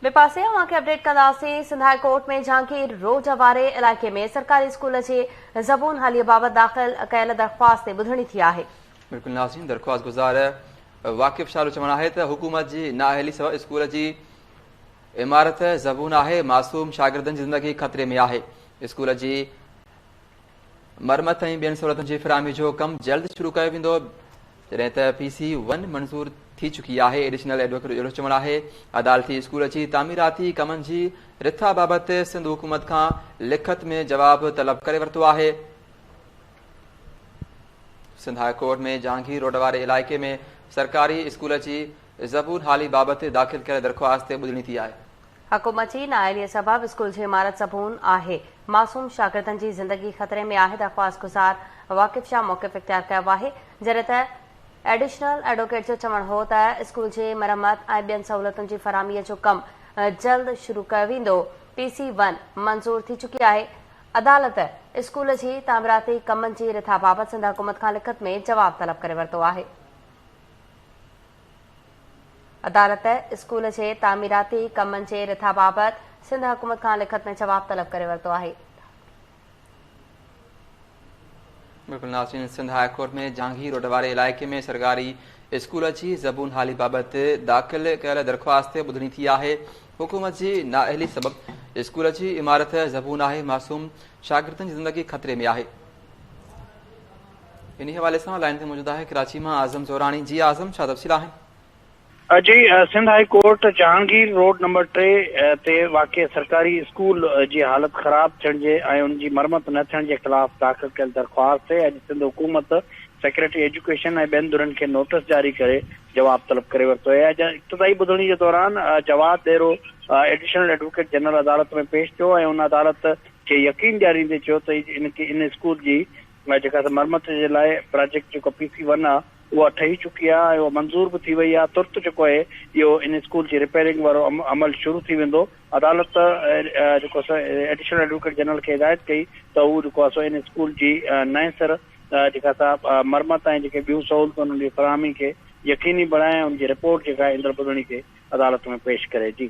ٻئي پاسي اوهان کي اپڊيٽ ڪنداسين Sindh high court ۾ Jahangir road واري علائقي ۾ سرڪاري اسڪول جي زبون حالي بابت داخل ڪيل درخواست تي ٻڌڻي ٿي آهي. بلڪل ناظرين درخواست گذار واقف شاهه جو چوڻ آهي ته حڪومت جي نااهلي سبب اسڪول جي عمارت زبون آهي معصوم شاگردن جي زندگي خطري ۾ آهي اسڪول جي مرمت ۽ ٻين سھولتن جي فراهمي جو ڪم جلد شروع ڪيو ويندو، جڏهن ته پي سي ون منظور ٿي چڪي آهي، ايڊيشنل ايڊووڪيٽ جو اهڙو چوڻ آهي. عدالتي اسڪول جي تعميراتي ڪمن جي رٿا بابت سنڌ حڪومت کان لکت ۾ جواب طلب ڪري ورتو آهي. Sindh high court ۾ Jahangir road واري علائقي ۾ سرڪاري اسڪول جي زبون حالي بابت داخل ڪيل درخواست تي ٻڌڻي ٿي آهي. حق مچي نااهليء سبب اسڪول جي عمارت زبون آهي، معصوم شاگردن جي زندگي خطري ۾ آهي، درخواست گذار واقف شاهه موقف اختيار ڪيو آهي، جڏهن ته ايڊيشنل ايڊووڪيٽ جو چوڻ هو ته اسڪول جي مرمت ۽ ٻين سهولتن جي فراهميء جو ڪم جلد شروع ڪيو ويندو، پي سي ون منظور ٿي چڪي آهي، عدالت اسڪول جي تعميراتي ڪمن جي رٿا بابت سنڌ حڪومت کان لکت ۾ جواب طلب ڪري ورتو آهي. عدالت اسڪول جي تعميراتي ڪمن جي رٿا بابت سنڌ حڪومت کان لکت ۾ جواب طلب ڪري ورتو آهي. بلڪل ناظرين Sindh high court ۾ Jahangir road واري علائقي ۾ سرڪاري اسڪول جي زبون حالي بابت داخل ڪيل درخواست تي ٻڌڻي ٿي آهي حڪومت جي نااهلي سبب اسڪول جي عمارت زبون آهي معصوم شاگردن جي زندگي خطري ۾ آهي انهي حوالي سان لائين تي موجود آهي ڪراچي مان اعظم زوراڻي، جي اعظم ڇا تفصيل آهن؟ جي Sindh high court Jahangir road number ٽي تي واقع سرڪاري اسڪول جي حالت خراب ٿيڻ جي ۽ ان جي مرمت نه ٿيڻ جي خلاف داخل ڪيل درخواست تي اڄ سنڌ حڪومت سيڪريٽري ايجوڪيشن ۽ ٻين ڌرين کي نوٽس جاري ڪري جواب طلب ڪري ورتو اڄ ابتدائي ٻڌڻي جي دوران Jawad Dero additional advocate general عدالت ۾ پيش ٿيو ۽ ان عدالت کي يقين ڏياريندي چيو ته ان اسڪول جي لاء جيڪا ته مرمت جي لاء پراجيڪٽ جيڪو پي سي ون آ اها ٺهي چڪي آ ۽ اها منظور به ٿي وئي آ ترت جيڪو اهي اهو ان اسڪول جي رپيرنگ وارو عمل شروع ٿي ويندو عدالت جيڪو سو ايڊيشنل ايڊووڪيٽ جنرل کي هدايت ڪئي ته هو جيڪو آ سو ان اسڪول جي نئين سر جيڪا سا مرمت ۽ جيڪي ٻيون سهولتون انهن جي فراهمي کي يقيني بڻائي ۽ ان جي رپورٽ جيڪا آهي ايندڙ ٻڌڻي تي عدالت ۾ پيش ڪري جي.